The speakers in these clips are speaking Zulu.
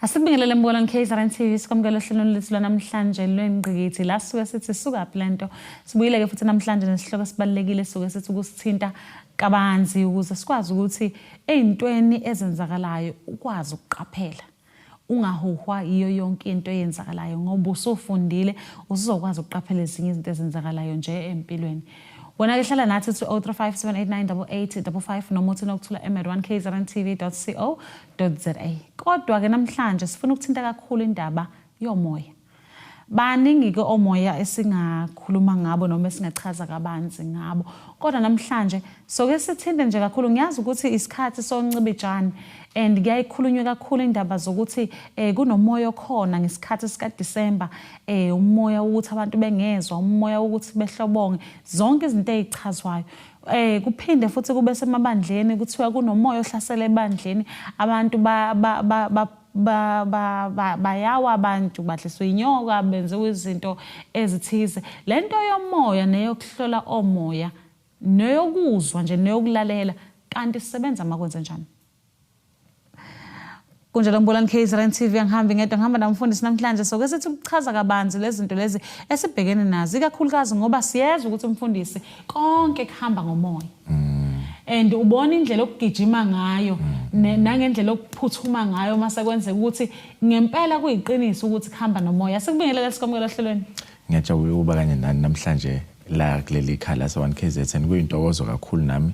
Asibingelele mbolo nKZN TV sikwamukela ohlelweni lethu lwanamhlanje lwengqikithi la suke sithi suka phi lento sibuyile ke futhi namhlanje nesihloko sibalekile suke sithi kusithinta kabanzi ukuze sikwazi ukuthi ezintweni ezenzakalayo ukwazi ukuqaphela ungahuhwa yiyo yonke into eyenzakalayo ngoba usufundile usuzokwazi ukuqaphela ezinye izinto ezenzakalayo nje empilweni wena ke hlala nathi uthi 0357898855 noma uthi nokuthula emed1kzrntv.co za kodwa-ke namhlanje sifuna ukuthinta kakhulu indaba yomoya baningi-ke omoya esingakhuluma ngabo noma esingachaza kabanzi ngabo kodwa namhlanje soke sithinte nje kakhulu ngiyazi ukuthi isikhathi soncibijane and kuyayikhulunywe kakhulu indaba zokuthi um kunomoya okhona ngesikhathi sikadisemba um eh, umoya wokuthi abantu bengezwa umoya wokuthi behlobonge zonke izinto ezichazwayo eh kuphinde futhi kube semabandleni kuthiwa kunomoya ohlasela ebandleni abantu ba ba ba, ba bayawa abantu badliswa inyoka benziwa izinto ezithize le nto yomoya neyokuhlola omoya neyokuzwa nje neyokulalela kanti sisebenza makwenze njani kunjalo ngibulani kzrn tv angihambi ngedwa ngihamba namfundisi namhlanje so ke sithi ukuchaza kabanzi lezinto lezi esibhekene nazo ikakhulukazi ngoba siyezwa ukuthi umfundisi konke kuhamba ngomoya mm. and ubona indlela okugijima ngayo mm. nangendlela okuphuthuma ngayo uma sekwenzeka ukuthi ngempela kuyiqiniso ukuthi kuhamba nomoya sikubingelele sikwamukela ohlelweni Ngiyajabula ukuba kanye nani namhlanje la kuleli khala lase-one kzn kuyintokozo kakhulu nami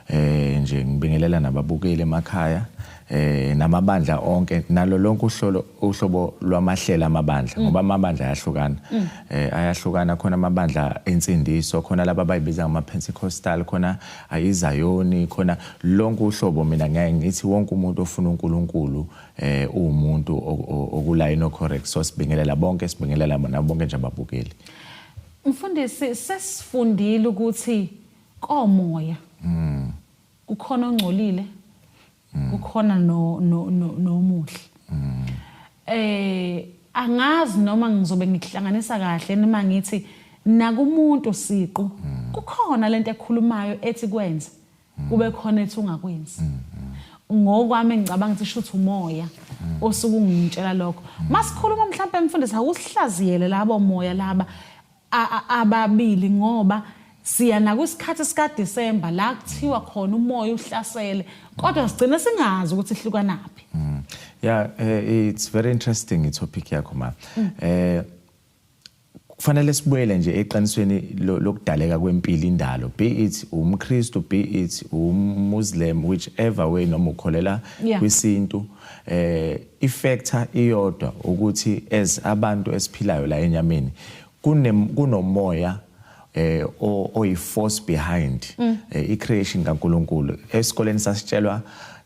eh nje ngibingelela nababukeli emakhaya eh namabandla onke nalo lonke uhlolo uhlobo lwamahlela amabandla mm. ngoba amabandla ayahlukana mm. eh ayahlukana khona amabandla ensindiso khona laba bayibiza ngama Pentecostal khona ayizayoni khona lonke uhlobo mina ngeke ngithi wonke umuntu ofuna uNkulunkulu eh umuntu okula inocorrect so sibingelela bonke sibingelela bona bonke nje ababukeli mfundisi sesifundile ukuthi komoya mm kukhona ongcolile mm. kukhona no no nomuhle mm. eh angazi noma ngizobe ngikuhlanganisa kahle noma ngithi nakumuntu siqu mm. kukhona lento ekhulumayo ethi kwenze mm. kube khona ethi ungakwenzi mm, mm. ngokwami engicabanga ukuthi shuthi umoya mm. osuke ungitshela lokho mm. masikhuluma mhlawumbe mfundisi awusihlaziyele labo moya laba ababili ngoba siya nakwisikhathi sikaDisemba la kuthiwa khona umoya uhlasele kodwa sigcine singazi ukuthi ihlukanaphi mm. yeah uh, it's very interesting itopic yakho ma mm. eh kufanele sibuyele nje eqinisweni lokudaleka kwempilo indalo be it umKristu be it umMuslim whichever way noma ukholela kwisintu eh ifactor iyodwa ukuthi as abantu esiphilayo la enyameni kunomoya eh oyi force behind mm. eh, i creation kaNkuluNkulu esikoleni sasitshelwa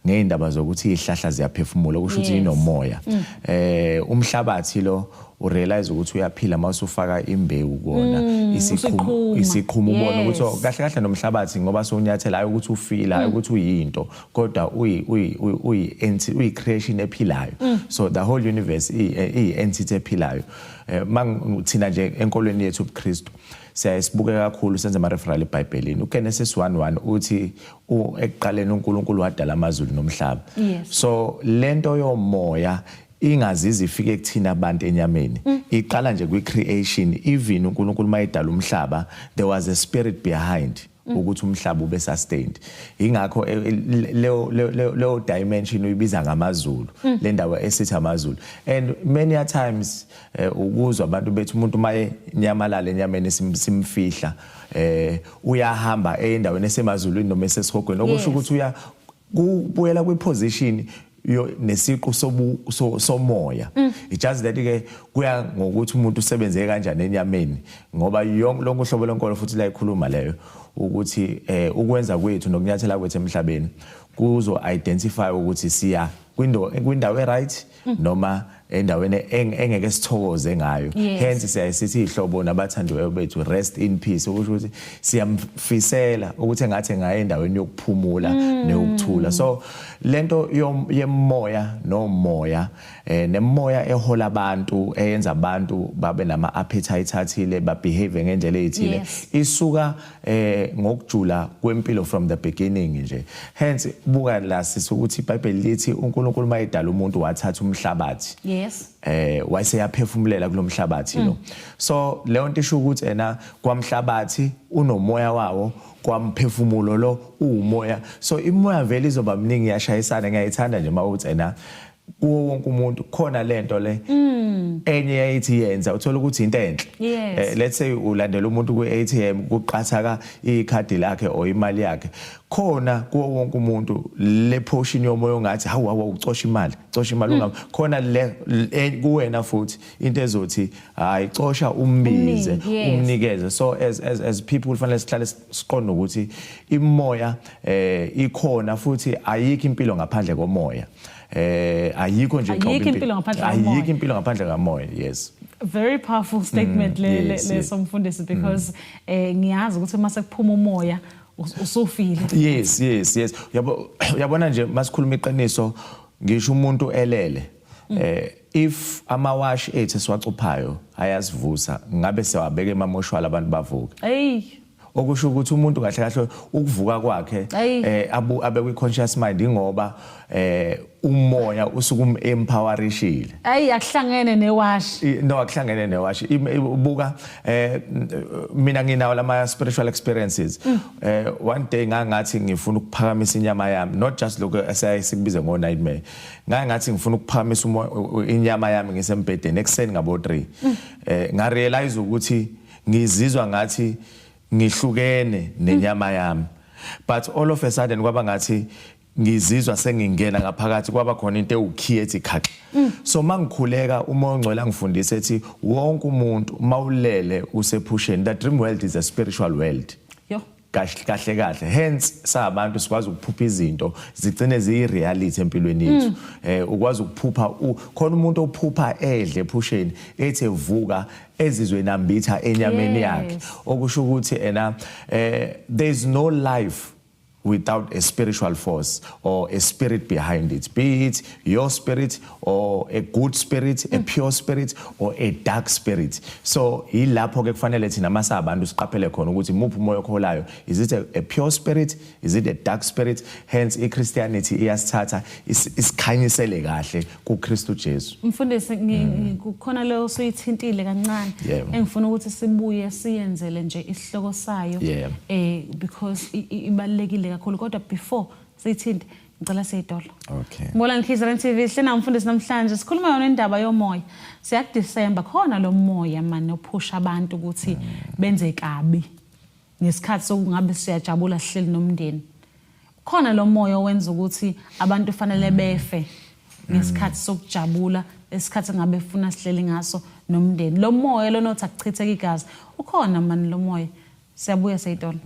ngeindaba zokuthi ihlahla ziyaphefumula okusho ukuthi inomoya mm. eh umhlabathi lo urealize ukuthi uyaphila uma usufaka imbewu kona mm, isiqhumo isiqhumo ubona ukuthi oh, kahle kahle nomhlabathi ngoba sonyathela hayi ukuthi ufila hayi mm. ukuthi uyinto kodwa uyi uyi uyi uyi creation ephilayo mm. so the whole universe i entity ephilayo Eh, thina nje enkolweni yethu ubuKristu siyaye sibuke kakhulu senze ama-referral ebhayibhelini ugenesis 1 uthi ekuqaleni unkulunkulu wadala amazulu nomhlaba so le nto yomoya ingazizi ifike kuthina abantu enyameni mm. iqala nje kwi-creation even unkulunkulu uma edala umhlaba there was a spirit behind Mm. ukuthi umhlaba ube sustained ingakho eh, eh, leyo leyo dimension uyibiza ngamazulu mm. le ndawo esithi amazulu and many a times eh, ukuzwa abantu bethu umuntu maye nyamalala enyameni simfihla eh uyahamba endaweni esemazulwini noma esesihogweni okusho ukuthi uya kubuyela kwiposition yo nesiqu sobu so, somoya mm. it just that ke kuya ngokuthi umuntu usebenze kanjani enyameni ngoba yonke lonke uhlobo lenkolo futhi la ikhuluma leyo ukuthi eh ukwenza kwethu nokunyathela kwethu emhlabeni kuzo identify ukuthi siya kwindawo kwindawo e right mm. noma endaweni engeke sithokoze ngayo hence siyayisithi ihlobo nabathandiweyo bethu rest in peace okusho ukuthi siyamfisela ukuthi engathi ngaye endaweni yokuphumula mm. neyokuthula so lento yemoya nomoya eh nemoya ehola abantu eyenza abantu babe nama appetite athile ba behave ngendlela ezithile isuka eh ngokujula kwempilo from the beginning nje hence buka la sisi ukuthi iBhayibheli lithi uNkulunkulu mayedala umuntu wathatha umhlabathi yes eh wayeseyaphefumulela kulomhlabathi lo mm. so leyo nto isho ukuthi ena kwamhlabathi unomoya wawo kwamphefumulo lo uwumoya so imoya vele izoba mningi yashayisana ngiyayithanda nje mawuthi ena kuwo wonke umuntu khona lento le mm. enye yayithi yenza uthola ukuthi into enhle yes. eh, let's say ulandela umuntu ku ATM kuqathaka ikhadi lakhe or imali yakhe khona kuwo wonke umuntu le portion yomoya ongathi hawu hawu ucosha imali cosha imali mm. khona le e, kuwena futhi into ezothi hayi cosha umbize umnikeze so as as as people kufanele sihlale siqonda ukuthi imoya eh ikhona futhi ayikho impilo ngaphandle komoya eh ayikho nje ayikho impilo ngaphandle komoya ayikho impilo ngaphandle kamoya yes very powerful mm, statement le le somfundisi because mm. eh ngiyazi ukuthi uma sekuphuma umoya usufile yes yes yes yabo yabona nje masikhuluma iqiniso ngisho umuntu elele Mm. Eh if amawash ethu siwacuphayo ayasivusa ngabe sewabeka emamoshwala abantu bavuke. Hey okusho ukuthi umuntu kahle kahle ukuvuka kwakhe eh abu abe kwi conscious mind ingoba eh umoya usuke um empowerishile ayi akuhlangene newash no akuhlangene newash ibuka eh mina nginawo lama spiritual experiences mm. eh one day ngangathi ngifuna ukuphakamisa inyama yami not just lokho esayisibize ngo nightmare ngaye ngathi ngifuna ukuphakamisa inyama yami ngisembhedeni ekuseni ngabo 3 mm. eh nga realize ukuthi ngizizwa ngathi ngihlukene nenyama yami but all of a sudden kwaba ngathi ngizizwa sengingena ngaphakathi kwaba khona into ewukhiye ethi khaxa mm. so mangikhuleka uma ongcwele angifundisa ethi wonke umuntu mawulele usephusheni the dream world is a spiritual world kahle kahle hence sabantu sikwazi ukuphupha izinto zigcine ziyireality empilweni yethu mm. eh ukwazi ukuphupha khona umuntu ophupha edle ephusheni ethi evuka ezizwe nambitha enyameni yakhe okusho ukuthi ena eh there is no life without a spiritual force or a spirit behind it be it your spirit or a good spirit a mm. pure spirit or a dark spirit so yilapho ke kufanele thina masa abantu siqaphele khona ukuthi muphi umoya okholayo is it a, a pure spirit is it a dark spirit hence i christianity iyasithatha isikhanyisele kahle ku Kristu Jesu mfundisi mm. kukhona leyo suyithintile kancane engifuna ukuthi sibuye siyenzele nje isihloko sayo eh because ibalekile kakhulu kodwa before sithinte ngicela seyitolo okay mbola ngikhiza le TV hlena umfundisi namhlanje sikhuluma yona indaba yomoya siya December khona lo moya manje ophusha abantu ukuthi benze kabi ngesikhathi sokungabe siyajabula sihleli nomndeni khona lo moya owenza ukuthi abantu fanele befe ngesikhathi sokujabula esikhathi ngabe funa sihleli ngaso nomndeni lo moya lona othi akuchitheke igazi ukhona mani lo moya Siyabuya Seyton.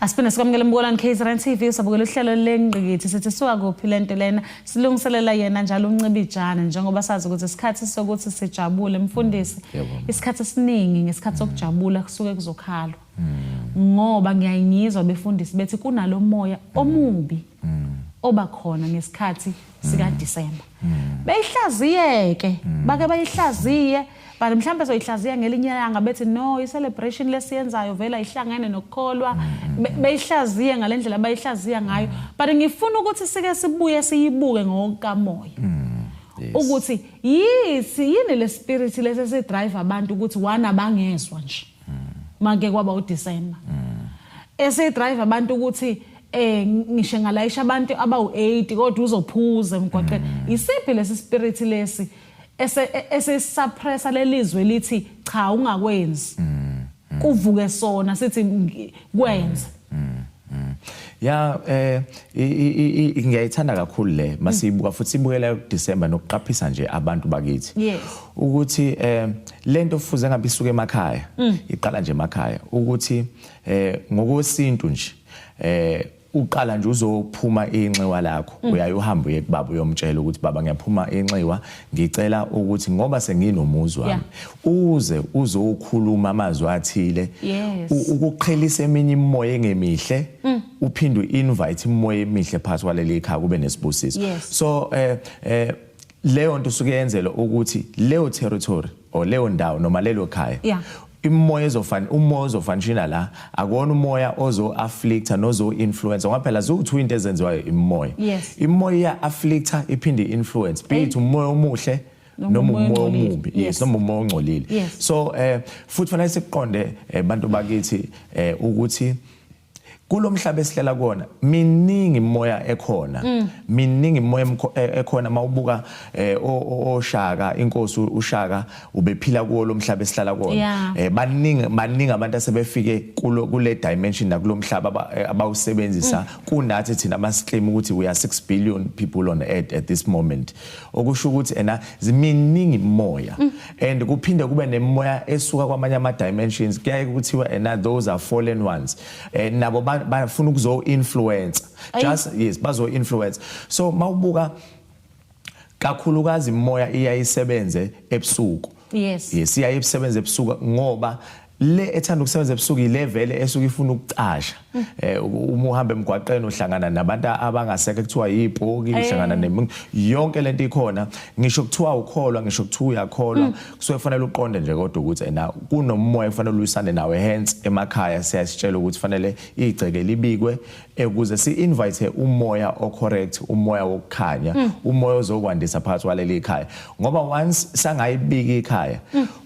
Asiphinde sikwamukele embukolweni KZN TV usabukela uhlelo lengqikithi sithi suka kuphi lento lena silungiselela yena njalo uncibijana njengoba sazi ukuthi isikhathi sokuthi sijabule mfundisi isikhathi esiningi ngesikhathi sokujabula kusuke kuzokhalwa hmm. ngoba ngiyayingizwa befundisi bethi kunalo moya hmm. omubi hmm. oba khona ngesikhathi sika December beyihlaziyeke bake bayihlaziye but mhlawumbe soyihlaziya ngelinye ilanga bethi no i-celebration lesiyenzayo vele ayihlangene nokukholwa beyihlaziye ngale ndlela bayihlaziya ngayo but ngifuna ukuthi sike sibuye siyibuke ngokukamoya ukuthi yithi yini le spirit lesi esidrive abantu ukuthi wana bangezwa nje make kwaba uDecember esidrive abantu ukuthi eh ngisho ngalayisha abantu abawu8 kodwa uzophuza emgwaqeni mm. isiphi lesi spirit lesi esesuppressa e, lelizwe lithi cha ungakwenzi mm, mm. kuvuke sona sithi kwenze Mm, mm. Ya eh ngiyayithanda kakhulu le masiyibuka mm. futhi ibukela uDecember nokuqaphisa nje abantu bakithi. Yes. Ukuthi eh lento fuze ngabe isuke emakhaya. Mm. Iqala nje emakhaya ukuthi eh ngokwesintu nje eh uqala nje uzophuma inxiwa lakho mm. uyaye uhambe uye kubaba uyomtshela ukuthi baba ngiyaphuma inxiwa ngicela ukuthi ngoba senginomuzi wami uze uzokhuluma amazwi athile ukuqhelisa eminye imimoya engemihle mm. uphinde uinvite imimoya emihle phakathi kwaleli khaya kube nesibusiso so eh eh leyo nto usuke yenzelwa ukuthi leyo territory or leyo ndawo noma lelo khaya imoya ezofan umoya ozofanishina la akona umoya ozo afflicta nozo influence ngoba phela ziwu-two into ezenziwayo imoya yes. imoya iya afflicta iphinde influence be it umoya omuhle noma umoya omubi yes noma umoya ongcolile so eh futhi fanele siqonde eh, bantu bakithi eh ukuthi kulo mhlaba esihlala kona miningi imoya ekhona mm. miningi imoya e, ekhona mawubuka eh, oshaka inkosi ushaka ubephila kuwo lo mhlaba esihlala kona eh, baningi baningi abantu asebefike kulo kule dimension nakulo mhlaba eh, abawusebenzisa mm. kunathi thina abasiclaim ukuthi we are 6 billion people on earth at this moment okusho ukuthi ena ziminingi imoya mm. and kuphinde kube nemimoya esuka kwamanye ama dimensions kuyaye kuthiwa and eh, those are fallen ones eh, nabo bafuna ukuzo influence just yes bazo influence so mawubuka kakhulukazi imoya iyayisebenze ebusuku yes yes iyayisebenza ebusuku ngoba le ethanda ukusebenza ebusuku ile vele esuke ifuna ukucasha mm. eh uma uhamba emgwaqeni uhlangana nabantu abangaseke kuthiwa yibhoki eh. uhlangana nemi yonke lento ikhona ngisho kuthiwa ukholwa ngisho kuthiwa uyakholwa mm. kusuke kufanele uqonde nje kodwa ukuthi ena kunomoya kufanele ulisane nawe hence emakhaya siyasitshela ukuthi fanele igceke libikwe ukuze si invite umoya o correct umoya wokukhanya mm. umoya ozokwandisa phakathi waleli ikhaya ngoba once sangayibika ikhaya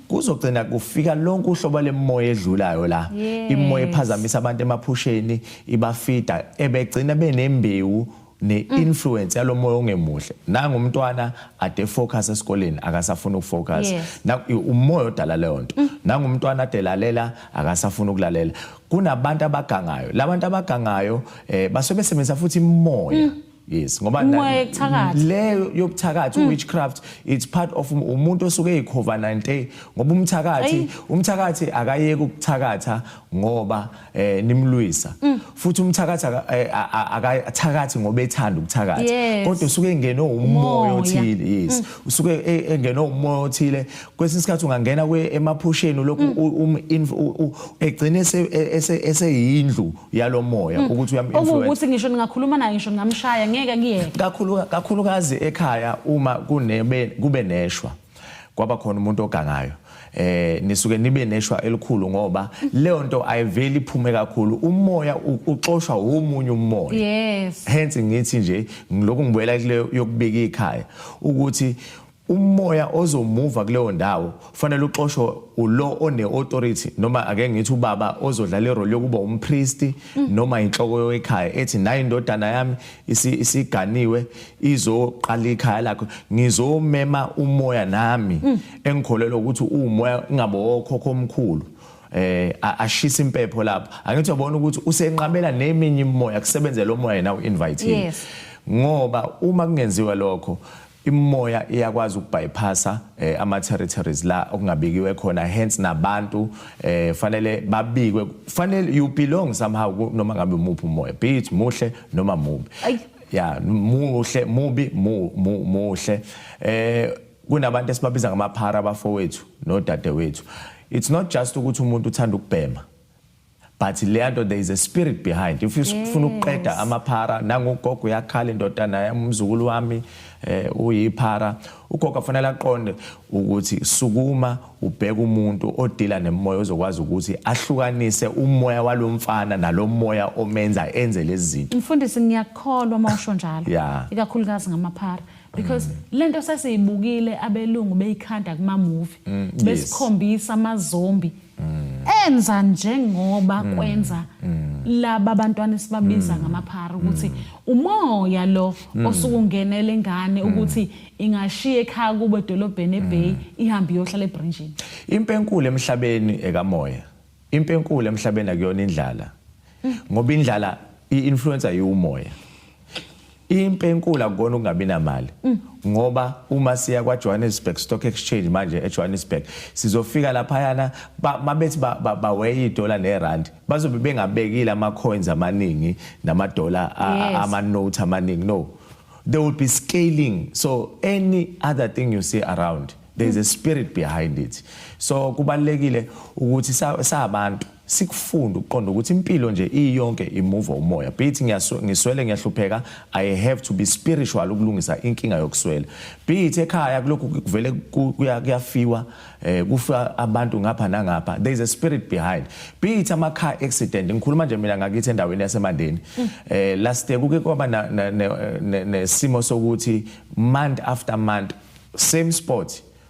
kuzogcina kufika lonke uhlobo lemoya edlulayo la yes. imoya ephazamisa abantu emaphusheni ibafida ebegcina benembewu ne-influence yalo moya ongemuhle nangu umntwana ade focus esikoleni akasafuna ukufocus umoya odala leyo nto mm. nangu umntwana ade lalela akasafuna ukulalela kunabantu abagangayo labantu abagangayo eh basebenzisa futhi imoya mm. yes ngoba Umoya na- yobuthakathi. leyo yobuthakathi witchcraft it's part of um- umuntu osuke eyikhova 90 ngoba umthakathi Ayi. umthakathi akayeki ukuthakatha ngoba eh nimlwisa futhi umthakathi aka- eh, a- a- akathakathi ngoba ethanda ukuthakatha Yes. kodwa usuke engenwe umoya Umoya. othile yes usuke e- engenwe umoya othile kwesinye isikhathi ungangena emaphusheni lokhu mm. um, egcine eseyindlu e, e, yalomoya mm. ukuthi uyaminfluence ukuthi ngisho ningakhuluma naye ngisho ngamshaya ngeke kuyeke kakhulu kakhulukazi ekhaya uma kunebe kube neshwa kwaba khona umuntu ogangayo eh nisuke nibe neshwa elikhulu ngoba leyo nto ayiveli iphume kakhulu umoya uxoshwa womunye umoya yes hence ngithi nje ngiloku ngibuyela kuleyo yokubika ikhaya ukuthi Umoya ozomuva kuleyo ndawo ufanele uxoshwe ulo one-authority noma ake ngithi ubaba ozodlala irole yokuba umpristi mm. noma inhloko yoekhaya ethi nayo indodana yami isiganiwe izoqala ikhaya lakho ngizomema umoya nami mm. engikholelwa ukuthi uwumoya ingabe okhokho omkhulu eh ashisa impepho lapho angithi uyabona ukuthi usenqabela neminye imimoya kusebenzela umoya nawo invite ngoba uma kungenziwa lokho Imimoya iyakwazi ukubypassa eh, ama territories la okungabikiwe khona hence nabantu eh, fanele babikwe fanele you belong somehow ku- noma ngabe umuphi umoya be it muhle noma mubi Ay. ya muhle mubi mu- mu- muhle eh kunabantu esibabiza ngamaphara abafowethu nodadewethu it's not just ukuthi umuntu uthanda ukubhema but leyanto there is a spirit behind if you ufuna ukuqeda amaphara nangogogo uyakhala indoda naye umzukulu wami eh uyiphara ugogo afanele aqonde ukuthi sukuma ubheka umuntu odila nemoya ozokwazi ukuthi ahlukanise umoya walomfana nalomoya omenza enze lezi zinto mfundisi ngiyakholwa uma usho njalo yeah. ikakhulukazi ngamaphara because mm. lento sesiyibukile abelungu beyikhanda kuma movie mm, besikhombisa amazombi enza njengoba mm. kwenza mm. laba bantwana esibabiza mm. ngamaphara ukuthi umoya lo osuke ungenele ingane ukuthi ingashiya ekhaya kubo edolobheni ebay ihambe iyohlala ebrinjini impi enkulu emhlabeni ekamoya impi enkulu emhlabeni akuyona indlala ngoba indlala i-influencer yiwumoya impi enkulu akukona ukungabi namali mm. ngoba uma siya kwaJohannesburg Stock Exchange manje eJohannesburg sizofika laphayana mabethi baweya idola nerand bazobe bengabekile ama coins amaningi nama dollar ama note amaningi no there will be scaling so any other thing you see around there is a mm. spirit behind it so kubalekile ukuthi sabantu sa sikufunda ukuqonda ukuthi impilo nje iyonke imuva umoya be it ngiswele ngiyahlupheka i have to be spiritual ukulungisa inkinga yokuswela be it ekhaya kulokhu kuvele kuyafiwa eh kufa abantu ngapha nangapha there is a spirit behind be it ama car accident ngikhuluma nje mina ngakithi endaweni yasemandeni mm. eh last year kuke kwaba nesimo sokuthi month after month same spot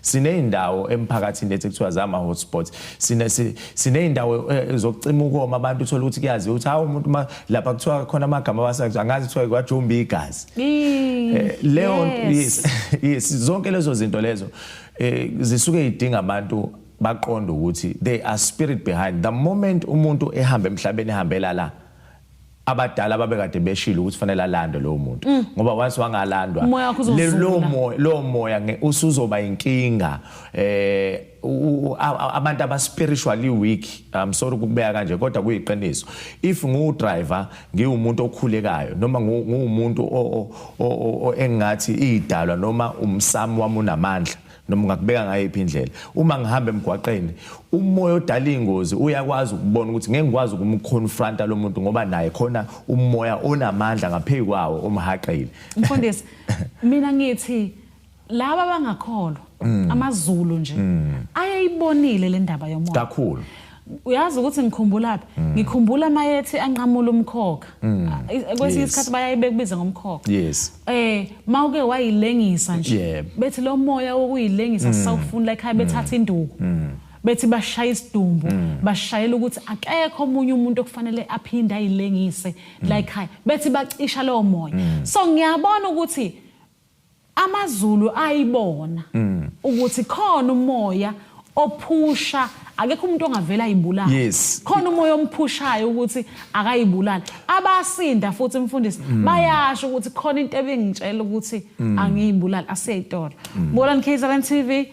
Sineyindawo emphakathini lethi kuthiwa zama hotspots. Sine sineyindawo eh, zokucima ukoma abantu uthola ukuthi kuyazi ukuthi hawo umuntu lapha kuthiwa khona amagama abasazi angazi kuthiwa kwajumba igazi. Eh, leyo yes yes zonke lezo zinto lezo eh, zisuke idinga abantu baqonda ukuthi they are spirit behind the moment umuntu ehamba emhlabeni ehambela la abadala babekade beshilo ukuthi fanele alandwe lowo muntu mm. ngoba once wangalandwa lo moya lo moya usuzoba inkinga eh abantu aba spiritually weak i'm sorry ukubeka kanje kodwa kuyiqiniso if ngu driver ngiwumuntu okhulekayo noma nguwumuntu engathi idalwa noma umsamo wami unamandla noma ungakubeka ngayiphi indlela uma ngihamba emgwaqeni umoya odala ingozi uyakwazi ukubona ukuthi ngeke ngikwazi ukumconfronta lo muntu ngoba naye khona umoya onamandla ngaphezu kwawo umhaqile mfundisi mina ngithi laba abangakholwa mm. amazulu nje mm. ayayibonile le ndaba yomoya kakhulu uyazi ukuthi ngikhumbulaphi mm. ngikhumbula mayethi anqamula umkhokha mm. kwesinye isikhathi bayayibeka kubiza ngomkhokha yes eh mawuke wayilengisa nje bethi lo moya wokuyilengisa mm. sisawufuna la ekhaya bethatha induku bethi bashaya isidumbu mm. bashayela ukuthi akekho omunye umuntu okufanele aphinde ayilengise mm. like high bethi bacisha lowo moya mm. so ngiyabona ukuthi AmaZulu ayibona ukuthi khona umoya ophusha akekho umuntu ongavela ayibulale yes. khona umoya omphushayo ukuthi akayibulali abasinda futhi mfundisi mm. bayasho ukuthi khona into ebingitshela ukuthi mm. angiyibulali asiyayitolo mm. bolani kzn tv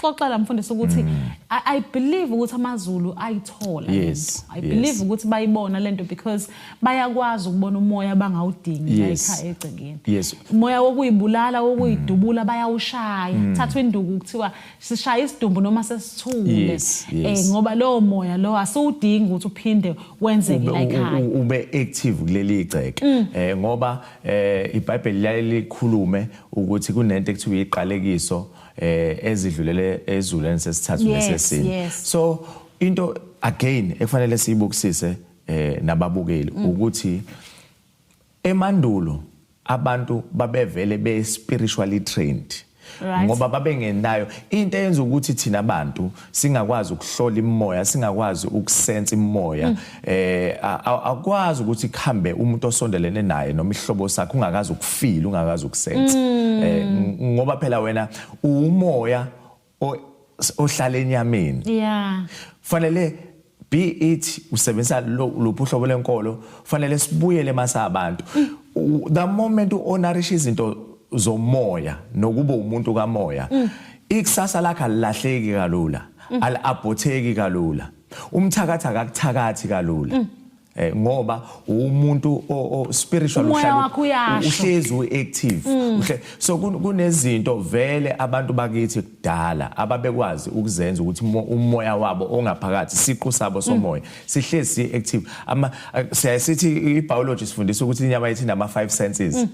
xoxa la mfundisi ukuthi mm. I, I believe ukuthi amaZulu ayithola yes, I believe yes. ukuthi bayibona lento because bayakwazi ukubona umoya bangawudingi yes. la ekhaya egcekeni yes. umoya wokuyibulala wokuyidubula mm. bayawushaya mm. thathwa induku kuthiwa sishaya isidumbu noma sesithule yes, eh, yes. Eh, ngoba lowo moya lowo asiwudingi ukuthi uphinde wenzeke la ekhaya ube active kuleli igceke mm. eh, ngoba eh, iBhayibheli liyaye likhulume ukuthi kunento ekuthiwa iqalekiso eh ezidlulele ezuleni sesithathu nesesini yes, yes. so into again ekufanele siyibukisise eh nababukeli mm. ukuthi emandulo abantu babevele be spiritually trained right. ngoba babengenayo into eyenza ukuthi thina bantu singakwazi ukuhlola imimoya singakwazi ukusensa imimoya mm. eh akwazi ukuthi kuhambe umuntu osondelene naye noma ihlobo sakhe ungakazi ukufila ungakazi ukusensa mm. eh ngoba phela wena umoya ohlala enyameni yeah fanele be it usebenzisa luphi uhlobo lenkolo fanele sibuyele masa abantu the moment uhonorisha izinto zomoya nokuba umuntu kamoya mm. ikusasa lakhe alilahleki kalula mm. aliabhotheki kalula umthakathi akakuthakathi kalula mm. Eh, ngoba umuntu o spiritual uhlala uhlezi uactive mm. so kunezinto vele abantu bakithi kudala ababekwazi ukuzenza ukuthi umoya wabo ongaphakathi siqu sabo somoya mm. sihlezi si active ama eh, siyaye sithi i biology sifundisa ukuthi inyama yethu nama five senses mm.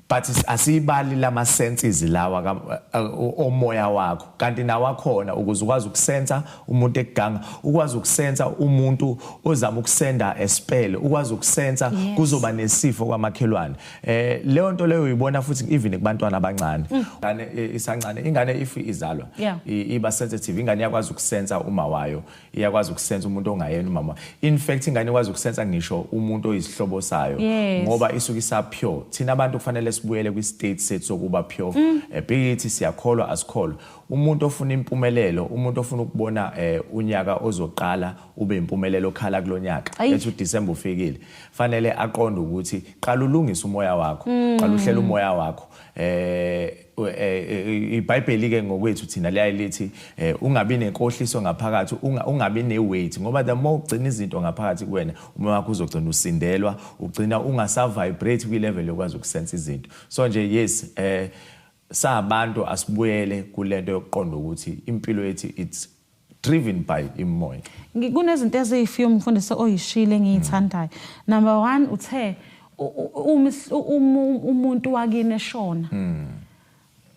But asiyibali lama senses lawa ka, uh, omoya wakho kanti nawakhona ukuze ukwazi ukusensa umuntu ekuganga ukwazi ukusensa umuntu ozama ukusenda espele ukwazi ukusensa yes. kuzoba nesifo kwamakhelwane eh leyo nto leyo uyibona futhi even kubantwana abancane mm. ngane mm. isancane ingane if izalwa yeah. iba sensitive ingane yakwazi ukusensa uma wayo iyakwazi ukusensa umuntu ongayena umama in fact ingane ikwazi ukusensa ngisho umuntu oyisihlobo sayo yes. ngoba isuke isapure thina abantu kufanele sibuyele kwi-state sethu sokuba pure mm. Eh, beyithi siyakholwa asikholwa umuntu ofuna impumelelo umuntu ofuna ukubona eh, unyaka ozoqala ube impumelelo okhala kulo nyaka ethi udisemba ufikile fanele aqonde ukuthi qala ulungise umoya wakho mm. qala uhlela umoya wakho eh Eh, ibhayibheli ke ngokwethu thina liyaye lithi eh, ungabi nenkohliso ngaphakathi ungabi neweight ngoba the more ugcina izinto ngaphakathi kuwena uma wakho uzogcina usindelwa ugcina ungasavibrate kwi-level yokwazi ukusensa izinto so nje yes eh sabantu asibuyele kulento yokuqonda ukuthi impilo yethu it's driven by imoya kunezinto eziyi-few umfundisi oyishile engiyithandayo number one uthe umuntu wakini eshona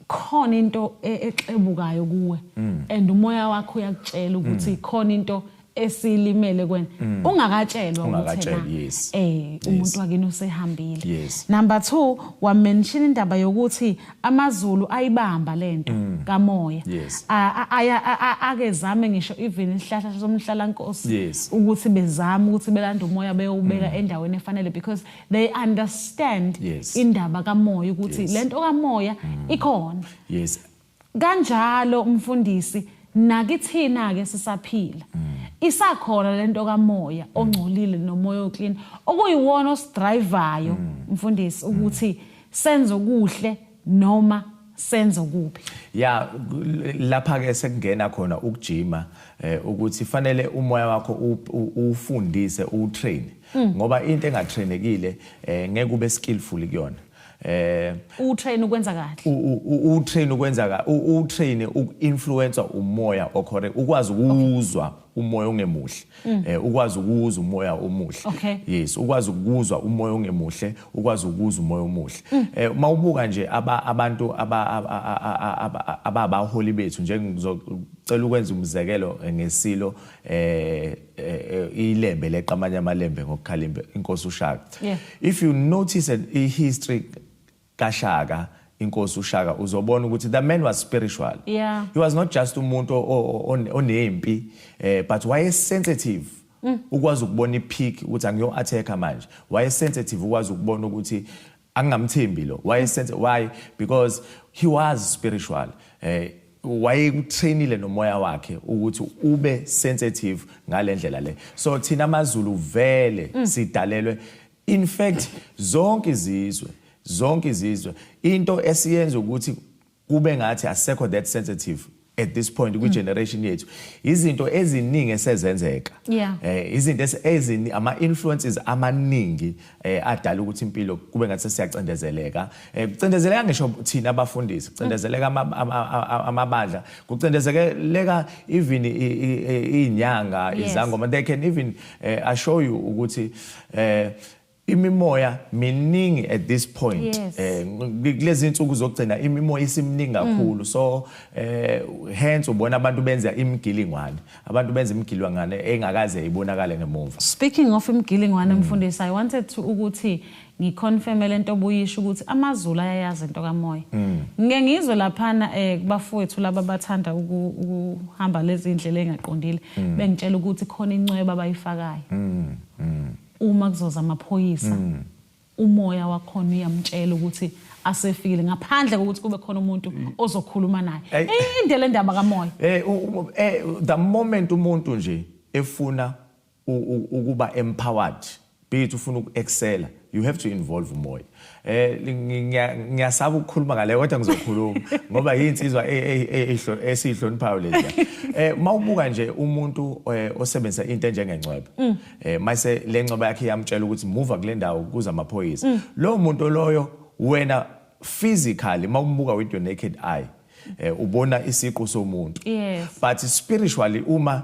khona into e-, exebukayo kuwe and umoya wakho uyakutshela ukuthi khona into esilimele kwena mm. ungakatshelwa ukuthi yes. eh umuntu wakini usehambile yes. number 2 wamention indaba yokuthi amazulu ayibamba lento mm. kamoya yes. akezame ngisho even isihlahla somhlalankosi yes. ukuthi bezame ukuthi belanda umoya beyowubeka mm. endaweni efanele because they understand yes. indaba kamoya ukuthi yes. lento kamoya mm. ikhona yes. kanjalo umfundisi nakithina ke sisaphila mm. isakhona lento kamoya ongcolile nomoya oclean okuyiwona osidrivayo mm. mfundisi ukuthi mm. senze okuhle noma senze okubi ya lapha ke sekungena khona ukujima eh, ukuthi fanele umoya wakho ufundise utrain hmm. ngoba into engatrainekile eh, ngeke ube skillful kuyona eh utrain ukwenza kahle utrain ukwenza kahle utrain ukuinfluencer umoya okhore ukwazi ukuzwa umoya ongemuhle mm. eh ukwazi ukuwuza umoya omuhle okay. yes ukwazi ukuzwa umoya ongemuhle ukwazi ukuza umoya omuhle mm. eh uma ubuka nje aba abantu aba aba abaholi bethu nje ngizocela ukwenza umzekelo eh, ngesilo eh, eh, eh ilembe leqamanya amalembe ngokukhalimbe inkosi ushaka yeah. if you notice a history kaShaka inkosi uShaka uzobona ukuthi the man was spiritual yeah. he was not just umuntu onempi eh, but waye sensitive mm. ukwazi ukubona ipeak ukuthi angiyo attacker manje waye sensitive ukwazi ukubona ukuthi angingamthembi lo waye sensitive why because he was spiritual eh wayekutrainile nomoya wakhe ukuthi ube sensitive ngalendlela le so thina amazulu vele mm. sidalelwe In fact zonke izizwe zonke izizwe into esiyenza ukuthi kube ngathi asekho that sensitive at this point kwi generation yethu izinto eziningi esezenzeka eh izinto ezini ama influences amaningi eh, adala ukuthi impilo kube ngathi sesiyacindezeleka eh, kucindezeleka ngisho thina abafundisi kucindezeleka amabandla kucindezeleka even inyanga izangoma they can even eh, assure you ukuthi eh imimoya miningi at this point yes. eh kulezi insuku zokugcina imimoya isimningi mm. kakhulu mm. so eh hence ubona abantu benza imigilingwane abantu benza imigilwangane engakaze ibonakale ngemuva speaking of imigilingwane mm. mfundisi i wanted to ukuthi ngiconfirme lento obuyisho ukuthi amazulu ayayazi into kamoya mm. ngike ngizwe laphana eh kubafowethu laba bathanda ukuhamba lezi indlela engaqondile mm. bengitshela ukuthi khona incweba abayifakayo mm. Uma kuzoza amaphoyisa umoya wakhona uyamtshela ukuthi asefikile ngaphandle kokuthi kube khona umuntu ozokhuluma naye. Ey. Inde le ndaba kamoya. Eh u- u- eh, the moment umuntu nje efuna u- u- ukuba empowered be it ufuna uku-excela you have to involve umoya eh ngiyasaba ukukhuluma ngale kodwa ngizokhuluma ngoba yinsizwa e, e, e, esihloniphayo lezi eh mawubuka nje umuntu eh, osebenzisa into enjengengcwebe mm. eh mayise lengcwebe yakhe yamtshela ukuthi move kule ndawo kuza amaphoyisa mm. lo muntu loyo wena physically mawumbuka with your naked eye eh ubona isiqu somuntu but spiritually uma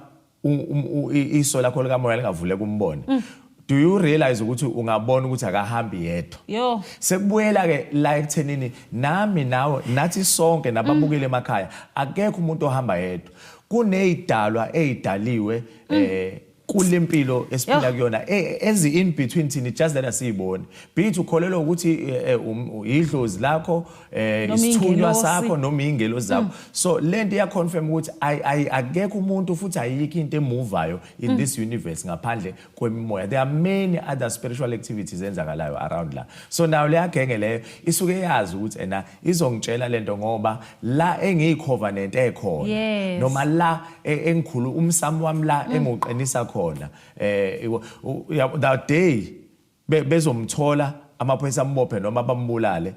iso lakho likamoya lingavuleka umbone mm. do you realize ukuthi ungabona ukuthi akahambi yedwa yo sekubuyela ke la ekuthenini nami nawe nathi sonke nababukile mm. emakhaya akekho umuntu ohamba yedwa kunezidalwa ezidaliwe mm. eh kulempilo esiphila kuyona e, enzi in between thini just that asiyiboni be it ukholelwa ukuthi eh, eh, um, idlozi lakho eh Noma isithunywa ingelosi. sakho noma ingelo zakho so lento iya confirm ukuthi ay- ay- akekho umuntu futhi ayikho into emuvayo in this universe ngaphandle kwemimoya there are many other spiritual activities enzakalayo around la so nayo leya genge leyo isuke yazi ukuthi ena izongitshela lento ngoba la engiyikhovenant ekhona Yes. noma la e- engikhulu umsamo wami la engiwuqinisa khona eh iwo- u- ya- that day be, bezomthola amaphoyisa ambophe noma bambulale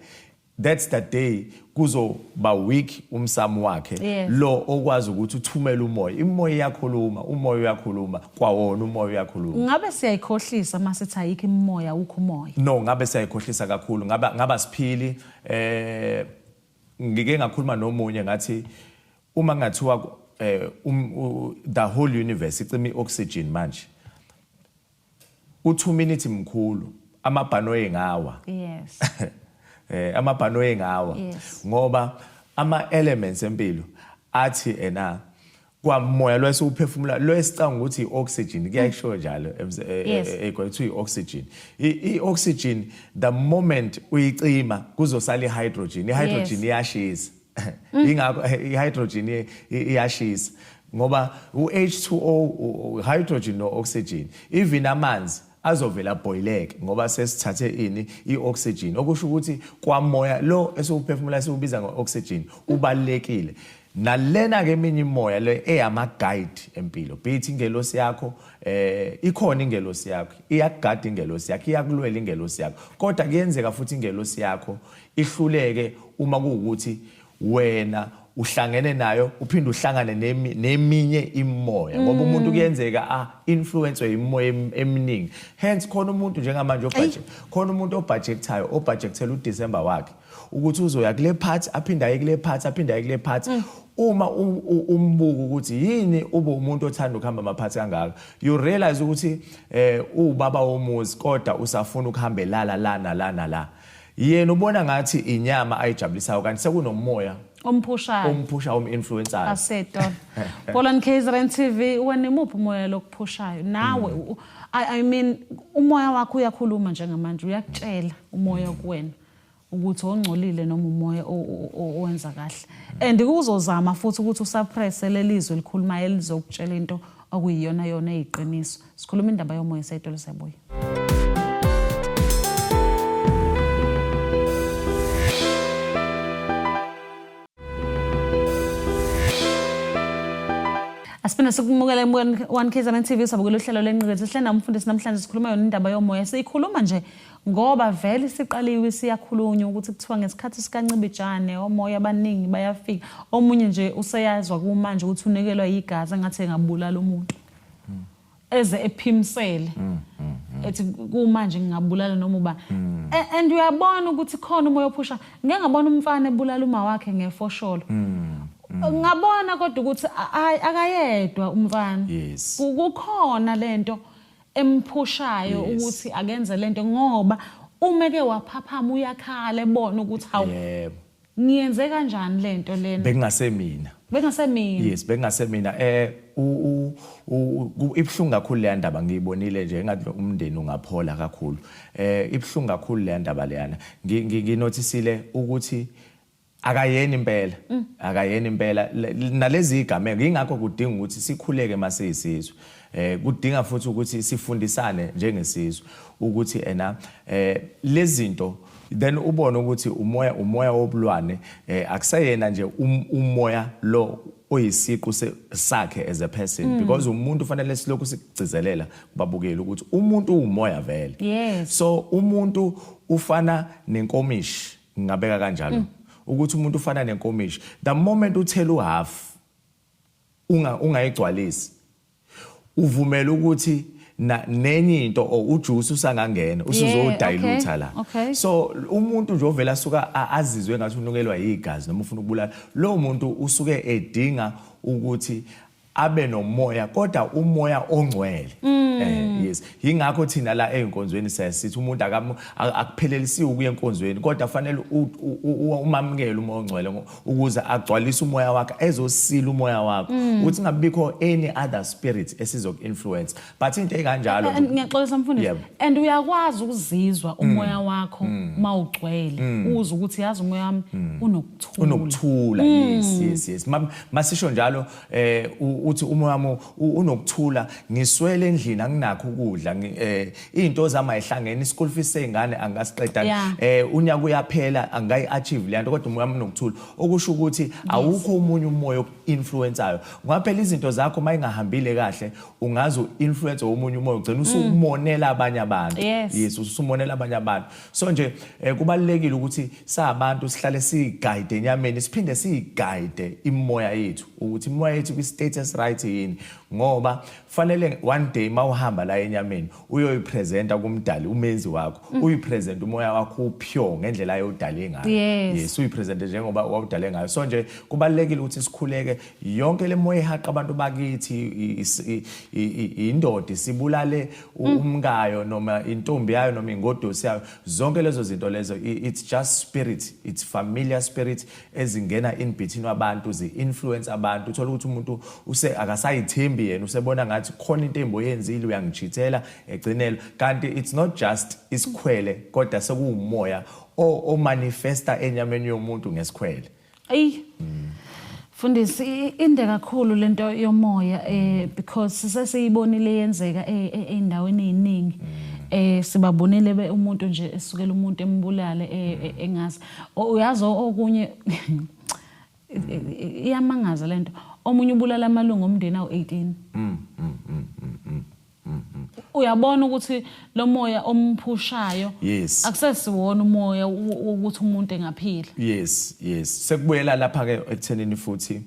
that's the day kuzoba weak umsamo wakhe yes. lo okwazi ukuthi uthumele umoya imoya iyakhuluma umoya uyakhuluma kwawona umoya uyakhuluma ngabe siyayikhohlisa uma sithi ayikho imoya ukho umoya no ngabe siyayikhohlisa kakhulu ngaba ngaba siphili eh ngike ngakhuluma nomunye ngathi uma ngathiwa eh um, the whole universe icima ioxygen manje U two minute mkhulu amabhanoyi ngawa. Yes. eh amabhanoyi ngawa. Yes. Ngoba ama elements empilo athi ena kwamoya lo esiwuphefumula lo esicanga ukuthi i-oxygen kuyayisho njalo ekuthiwa eh, eh, eh, i-oxygen i-oxygen the moment uyicima kuzosala i-hydrogen i-hydrogen iyashisa Mm. ingakho eh, ihydrogen iyashisa ngoba u-H2O hydrogen no-oxygen even amanzi azovela boileke ngoba sesithathe ini i-oxygen okusho ukuthi kwamoya lo esiwuphefumula siwubiza ngo-oxygen ubalekile nalena ke eminye imoya le eyama guide empilo bithi ingelosi yakho eh ikhona ingelosi yakho iyagada ingelosi yakho iyakulwela ingelosi yakho kodwa kuyenzeka futhi ingelosi yakho ihluleke uma kuwukuthi wena uhlangene nayo uphinde uhlangane neminye imimoya ngoba mm. umuntu kuyenzeka a ah, influence imimoya eminingi hence khona umuntu njengamanje obhaje khona umuntu obhajektayo obhajekthela uDecember wakhe ukuthi uzoya kule part aphinde aye kule part aphinde aye kule part mm. uma umbuka ukuthi yini ube umuntu othanda ukuhamba amaphathi kangaka you realize ukuthi eh ubaba womuzi kodwa usafuna ukuhambelala lana lana la yena ubona ngathi inyama ayijabulisayo kanti sekunomoya omphushayo omphusha om-influencer asetona bolani kzrn tv wena imuphi umoya lokuphushayo nawe mm. I, i mean umoya wakho uyakhuluma njengamanje uyakutshela umoya kuwena ukuthi ongcolile noma umoya owenza kahle and kuzozama futhi ukuthi usuppresse lelizwe elikhulumayo elizokutshela into okuyiyona yona eyiqiniso sikhuluma indaba yomoya sayitolo siyabuya Asiphinda sikumukele embukweni one KZN TV sabukela uhlelo lenqikethe sihle namfundisi namhlanje sikhuluma yona indaba yomoya siyikhuluma nje ngoba vele siqaliwe siyakhulunywa ukuthi kuthiwa ngesikhathi sikancibijane omoya abaningi bayafika omunye nje useyazwa kumanje ukuthi unekelwa yigazi engathi engabulala umuntu eze ephimsele mm, mm, mm. ethi kumanje ngingabulala noma uba and uyabona ukuthi khona umoya ophusha ngeke ngabona umfana ebulala uma wakhe ngefosholo ngabona kodwa ukuthi akayedwa umfana kukhona lento emphushayo ukuthi akenze lento ngoba uma ke waphaphama uyakhala ebona ukuthi hawu Ngiyenze kanjani lento lena? Bekungase mina. Bekungase mina. Yes, bekungase mina. Eh u u ibhlungu kakhulu le ndaba ngiyibonile nje engathi umndeni ungaphola kakhulu. Eh ibhlungu kakhulu le ndaba leyana. Nginothisile ukuthi akayeni impela mm. akayeni impela nalezi igameko ingakho kudinga ukuthi sikhuleke masiyisizwe Eh kudinga futhi ukuthi sifundisane njengesizwe ukuthi ena eh lezinto then ubone ukuthi umoya umoya wobulwane eh akuseyena nje um, umoya lo oyisiqu sakhe as a person mm. because umuntu fanele silokhu sikugcizelela kubabukeli ukuthi umuntu uwumoya vele yes. so umuntu ufana nenkomishi ngingabeka kanjalo mm. ukuthi umuntu ufana nenkomishi the moment uthela uhalf unga ungayigcwalisi uvumela ukuthi na nenye into or ujuice usangangena usuzodilute la so umuntu nje ovela asuka azizwe ngathi unukelwa yigazi noma ufuna ukubulala lo muntu usuke edinga ukuthi abe nomoya kodwa umoya ongcwele mm. eh yes yingakho thina la einkonzweni sesithi umuntu akaphelelisiwe ukuya enkonzweni kodwa fanele umamukele uma ongcwele ukuze agcwalise umoya wakhe ezosila umoya wakho mm. ukuthi ngabikho any other spirit esizoku influence but into ekanjalo ngiyaxolisa mfundisi and uyakwazi ukuzizwa mm. umoya wakho mm. uma ugcwele uze ukuthi yazi umoya wami unokuthula unokuthula yes yes yes masisho njalo eh uthi umoya wami unokuthula ngiswele endlini anginakho ukudla eh izinto zami ayihlangene ischool fees sezingane angasiqeda eh unyaka uyaphela angayi achieve le nto kodwa umoya wami unokuthula okusho ukuthi awukho umunye umoya oku-influencayo ngaphela izinto zakho uma ingahambile kahle ungaze u-influence omunye umoya ugcina usumonela abanye abantu yes usumonela abanye abantu so nje eh, kubalekile ukuthi sabantu sihlale sigayide enyameni siphinde sigayide imoya yethu ukuthi imoya yethu kwi status right yini ngoba fanele one day mawuhamba la enyameni uyoyipresenta kumdali umenzi wakho mm. uyipresent umoya wakho upure ngendlela ayodale ngayo yes, yes uyipresent njengoba wawudale ngayo so nje kubalekile ukuthi sikhuleke yonke le moya ihaqa abantu bakithi indoda sibulale Mm. umkayo noma intombi yayo noma ingodosi yayo zonke lezo zinto lezo it's just spirit it's familiar spirit ezingena in between abantu zi-influence abantu uthole ukuthi umuntu use akasayithembi yena usebona ngathi khona into embi oyenzile uyangijithela egcinelwa kanti it's not just isikhwele kodwa sekuwumoya omanifesta enyameni yomuntu ngesikhwele eyi Fundisi inde kakhulu lento yomoya eh because sesiyibonile yenzeka eh, eh, eindaweni eziningi eh sibabonile be umuntu nje esukela umuntu embulale eh, eh, engazi uyazi okunye iyamangaza lento omunye ubulala amalungu omndeni awu18 mm, mm, mm, uyabona ukuthi lo moya omphushayo yes akusesiwona umoya ukuthi umuntu engaphila yes yes sekubuyela lapha ke ekuthenini futhi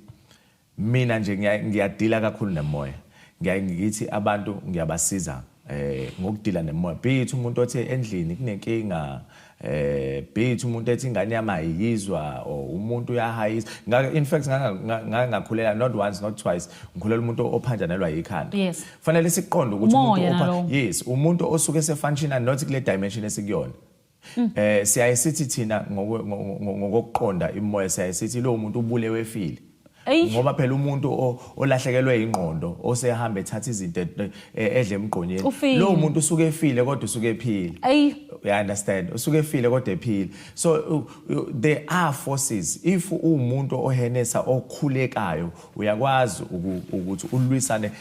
mina nje ngiyadila kakhulu nemoya ngiyaye ngithi abantu ngiyabasiza eh ngokudila nemoya bithi umuntu othe endlini kunenkinga eh beat umuntu ethi ingane yami ayiyizwa or umuntu uyahayisa in fact ngangakhulela not once not twice ngikhulela umuntu ophanjanelwa yikhanda yes. fanele siqonde ukuthi umuntu yes umuntu osuke sefunctiona not kule dimension esikuyona mm. eh siyaye sithi thina ngokuqonda imoya siyaye sithi lo muntu ubulewe efile Eish. ngoba phela umuntu o- olahlekelwe ingqondo osehamba ethatha izinto et- e- edle emgqonyeni Ufile. lowo muntu usuke efile kodwa usuke ephile Ayi. you understand usuke efile kodwa ephile so u- u- there are forces if uwumuntu ohenesa okhulekayo uyakwazi uku- ukuthi ulwisane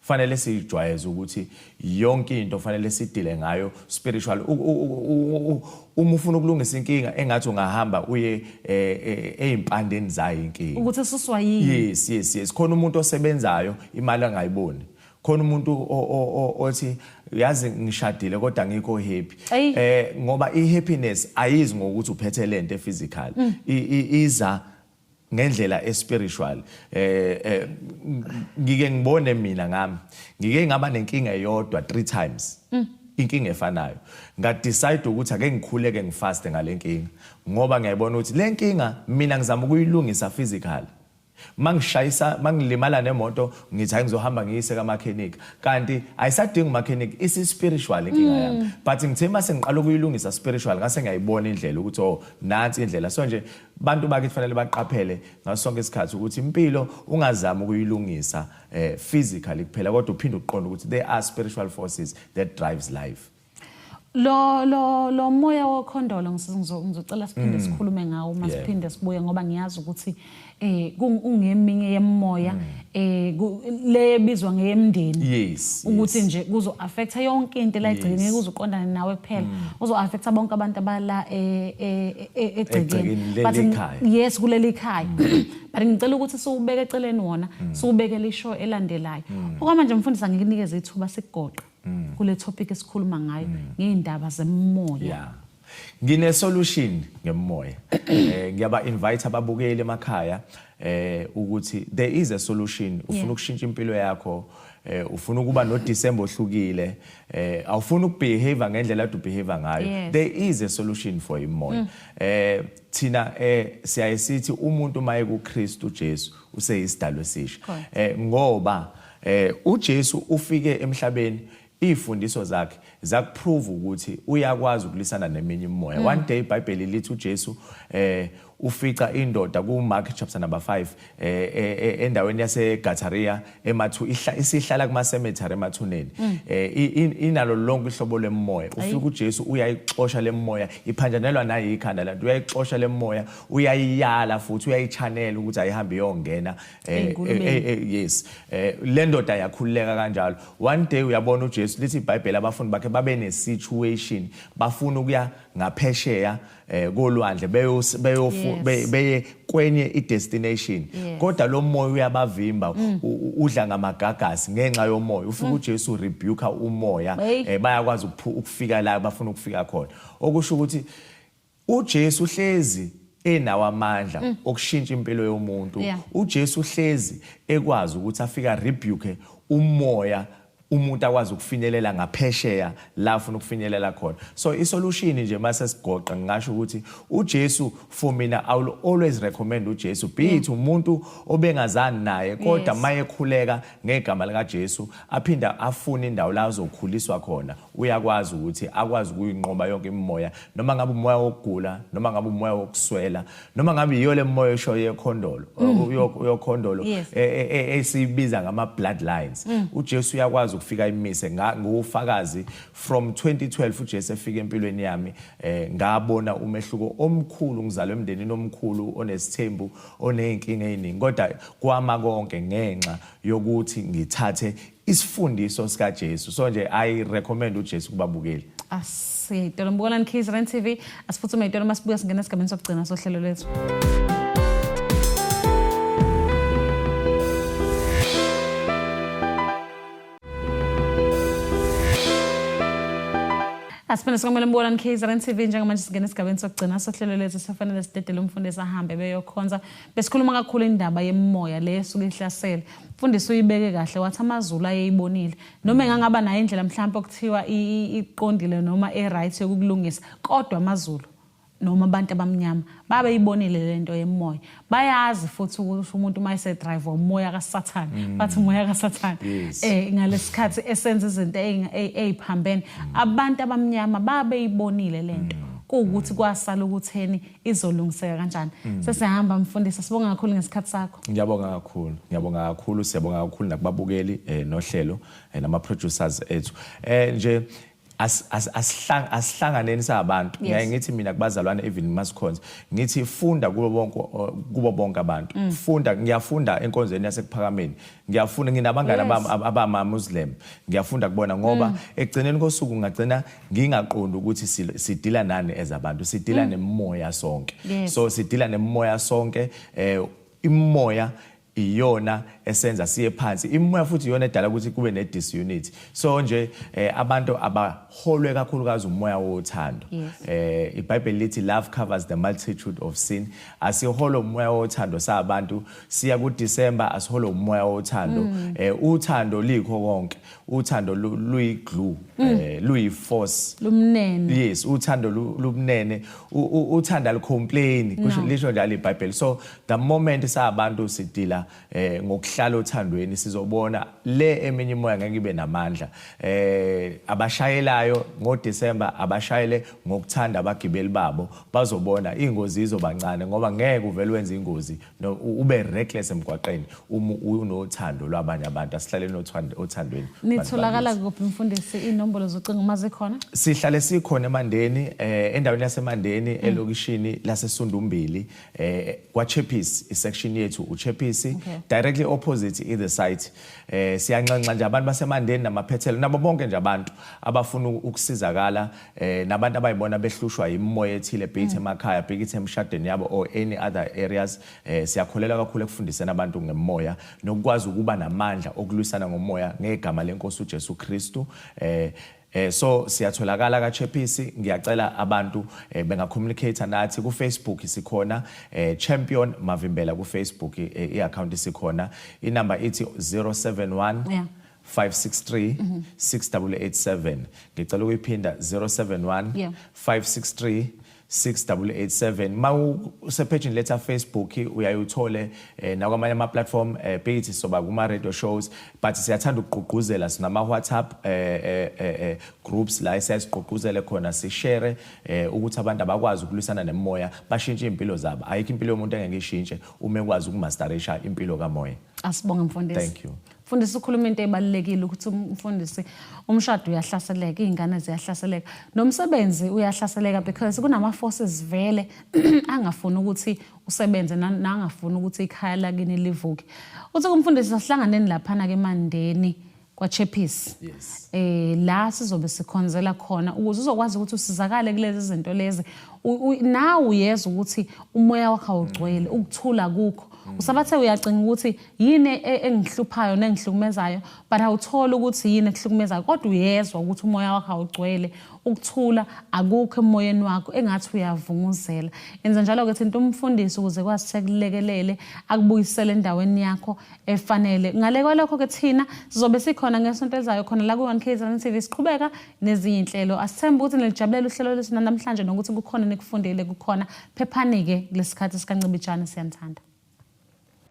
Fanele sijwayeze ukuthi yonke into fanele sidile ngayo spiritual. Uma ufuna ukulungisa inkinga engathi ungahamba uye eh, eh, ezimpandeni zayo inkinga. Ukuthi ususwa yini? Yes, yes, yes. Khona umuntu osebenzayo imali angayiboni. Khona umuntu othi yazi ngishadile kodwa ngikho happy. Eh ngoba i happiness ayizi ngokuthi uphethe lento e physical. Mm. Iza ngendlela espiritual eh, eh ngike ngibone mina ngami ngike ngaba nenkinga eyodwa 3 times mm. inkinga efanayo nga decide ukuthi ake ngikhuleke ngifaste ngalenkinga ngoba ngiyayibona ukuthi lenkinga mina ngizama ukuyilungisa physical mangishayisa mangilimala nemoto ngithi hayi ngizohamba ngiyise kamakhenika kanti ayisadingi umakhenika isi spiritual inkinga mm. yami but ngithe mase ngiqala ukuyilungisa spiritual ngase ngiyayibona indlela ukuthi oh nansi indlela so nje Bantu bakithi fanele baqaphele ngaso sonke isikhathi ukuthi impilo ungazama ukuyilungisa eh, physically kuphela kodwa uphinde uqonde ukuthi there are spiritual forces that drives life. lo lo lo moya wokhondolo ngizocela siphinde mm. sikhulume ngawo uma siphinde sibuye ngoba ngiyazi ukuthi eh kungeminye yemoya mm. eh le ebizwa ngeyemndeni yes ukuthi nje kuzo affecta yonke into la igcine ngeke uzuqondana nawe kuphela mm. uzo affecta bonke abantu abala eh, eh, eh, egcekeni but yes kuleli khaya mm. but ngicela ukuthi siwubeke eceleni wona mm. siwubekele ishow elandelayo okwamanje mfundisi angikunikeze ithuba sikugoqa kule topic esikhuluma ngayo ngeindaba zemoya Ngine solution ngemoya. Eh ngiyaba invite ababukeli emakhaya eh ukuthi there is a solution ufuna ukushintsha impilo yakho eh ufuna ukuba no December ohlukile eh awufuna ukubehave ngendlela adu behave ngayo yes. there is a solution for imoya mm. eh thina eh siyaye sithi umuntu maye ku Kristu Jesu useyisidalwe sisha eh ngoba eh uJesu ufike emhlabeni Izifundiso zakhe zakuprove ukuthi uyakwazi ukulisana neminye imimoya. Mm. One day iBhayibheli lithi uJesu eh ufica indoda kuMark chapter number 5 eh, eh, eh endaweni yaseGataria emathu isihlala kuma cemetery emathuneni. Mm. Eh inalo lonke ihlobo lemoya. Ufika uJesu uyayixosha lemoya, iphanjanelwa nayi ikhanda lantu uyayixosha lemoya, uyayiyala futhi uyayichanela ukuthi ayihambe iyongena Eh, eh, eh, eh yes eh le ndoda yakhululeka kanjalo one day uyabona uJesu lithi iBhayibheli abafundi bakhe babe ne situation bafuna ukuya ngaphesheya eh kolwandle beyofu beye kwenye idestination kodwa lo moya uyabavimba mm. udla ngamagagasi ngenxa yomoya ufika mm. uJesu rebuke umoya eh, bayakwazi ukufika la bafuna ukufika khona okusho ukuthi uJesu uhlezi enawo amandla mm. okushintsha impilo yomuntu yeah. uJesu uhlezi ekwazi ukuthi afika rebuke umoya umuntu akwazi ukufinyelela ngaphesheya la ufuna ukufinyelela khona so isolution nje mase sigoqa ngingasho ukuthi uJesu for mina i will always recommend uJesu be it mm. umuntu obengazani naye kodwa mayekhuleka ngegama lika Jesu aphinda afune indawo la azokhuliswa khona Uyakwazi ukuthi akwazi ukuyinqoba yonke imimoya, noma ngabe umoya wokugula, noma ngabe umoya wokuswela, noma ngabe yiyo le mimoya esho yekhondolo, mm. yokhondolo e, e, e, esiyibiza ngama bloodlines. Mm. UJesu uyakwazi ukufika imise ngufakazi from 2012 uJesu efika empilweni yami eh, ngabona umehluko omkhulu ngizalwe emndenini omkhulu onesithembu oneyinkinga eziningi kodwa kwama konke ngenxa yokuthi ngithathe isifundiso sika Jesu so nje i recommend u Jesu kubabukeli asitolo mbukolani Keys Rand TV asiphuthume itolo masibuya singena esigabeni sokugcina sohlelo lethu asiphinde sikwamele mbona nikhizeren tv njengamanje singena esigabeni sokugcina sohlelo lethu sifanele sidedele umfundisi ahambe beyokhonza Besikhuluma kakhulu indaba yemoya le esuke ihlasele. Mfundisi uyibeke kahle wathi amaZulu ayeyibonile. Noma engangaba nayo indlela mhlawumbe okuthiwa iqondile noma e-right yokukulungisa kodwa amaZulu noma abantu abamnyama babe ibonile lento yemoya bayazi futhi ukuthi umuntu uma ese drive umoya kaSathane mm. bathi umoya kaSathane eh ngalesikhathi esenza izinto eziphambene mm. abantu abamnyama babe ibonile lento mm. kuwukuthi kwasala ukutheni izolungiseka kanjani mm. sesihamba mfundisi sibonga kakhulu ngesikhathi sakho ngiyabonga kakhulu ngiyabonga kakhulu siyabonga kakhulu nakubabukeli eh, nohlelo eh, nama producers ethu eh nje asihlanganeni sabantu ngiyaye ngithi mina kubazalwane even masikhonza ngithi funda kubo bonke kubo bonke abantu mm. funda ngiyafunda enkonzweni yasekuphakameni ngiyafunda nginabangane abama muslim ngiyafunda kubona ngoba mm. ekugcineni kosuku ngagcina ngingaqondi ukuthi sidila nani as abantu sidila mm. nemoya sonke yes. so sidila nemoya sonke eh imoya iyona esenza siye phansi imoya futhi iyona edala ukuthi kube ne disunity so nje eh, abantu abaholwe kakhulukazi umoya wothando yes. eh iBhayibheli lithi love covers the multitude of sin asiholo umoya wothando sabantu siya ku December asiholo umoya wothando mm. eh uthando likho konke uthando luyi-glue um mm. eh, luyi-force lumnene yes uthando lumnene uthanda alicomplaini kusho lisho njalo ibhayibheli so the moment sabantu sidila eh ngokuhlala othandweni sizobona le eminye imoya ngeke ibe namandla eh abashayelayo ngoDecember abashayele ngokuthanda abagibeli babo bazobona ingozi izobancane ngoba ngeke uvele wenze ingozi no ube reckless emgwaqeni uma unothando lwabanye abantu asihlaleni othandweni nitholakala kuphi mfundisi inombolo zocingo uma zikhona sihlale sikhona emandeni eh, endaweni yasemandeni mm. elokishini lasesundumbili eh, kwachepisi isection yethu uchepisi directly opposite in the site eh, siyanxanxa nje abantu basemandeni namaphethelo nabo bonke nje abantu abafuna ukusizakala eh nabantu abayibona behlushwa imimoya ethile be it mm. emakhaya be it emshadweni yabo or any other areas eh siyakholela kakhulu ekufundiseni abantu ngemoya nokukwazi ukuba namandla okulwisana ngomoya ngegama lenkosi uJesu Kristu eh Eh so siyatholakala ka Chephisi ngiyacela abantu eh, benga communicate nathi ku Facebook sikhona eh, Champion Mavimbela ku Facebook eh, i account sikhona inamba ithi 071 yeah. 563 6887 ngicela ukuyiphinda 071 Yeah. 563 6887 ma usepage letha Facebook uyaye uthole eh, nakwamanye ama platform eh, bethi soba kuma radio shows but siyathanda ukugqugquzela sinama WhatsApp eh, eh, eh, eh, groups la esiyazigqugquzele khona si share eh, ukuthi abantu abakwazi ukulwisana nemoya bashintshe impilo zabo ayikho impilo yomuntu engeke ishintshe uma ekwazi ukumasterisha impilo kamoya Asibonge mfundisi. thank you Mfundisi ukhuluma into ebalulekile ukuthi umfundisi umshado uyahlaseleka, izingane ziyahlaseleka, nomsebenzi uyahlaseleka because kunama forces vele angafuni ukuthi usebenze nangafuni ukuthi ikhaya lakini livuke. Uthi kumfundisi sihlanganeni laphana ke Mandeni kwaChappies. Yes. Eh la sizobe sikhonzela khona ukuze uzokwazi ukuthi usizakale kulezi zinto lezi. Nawe uyeza ukuthi umoya wakho awugcwele, ukuthula kukho. Mm. Usabathe uyacinga ukuthi yini e, e, engihluphayo nengihlukumezayo but awutholi ukuthi yini ekuhlukumezayo kodwa uyezwa ukuthi umoya wakho awugcwele ukuthula akukho emoyeni wakho engathi uyavunguzela enza njalo ke thinta umfundisi ukuze kwazi sekulekelele akubuyisele endaweni yakho efanele ngale kwalokho ke thina sizobe sikhona ngesonto elizayo khona la ku-1 kzn tv siqhubeka nezinye inhlelo asithembe ukuthi nilijabulela uhlelo lwethu nanamhlanje nokuthi kukhona nikufundile kukhona phephanike kulesikhathi sikancibijane siyanithanda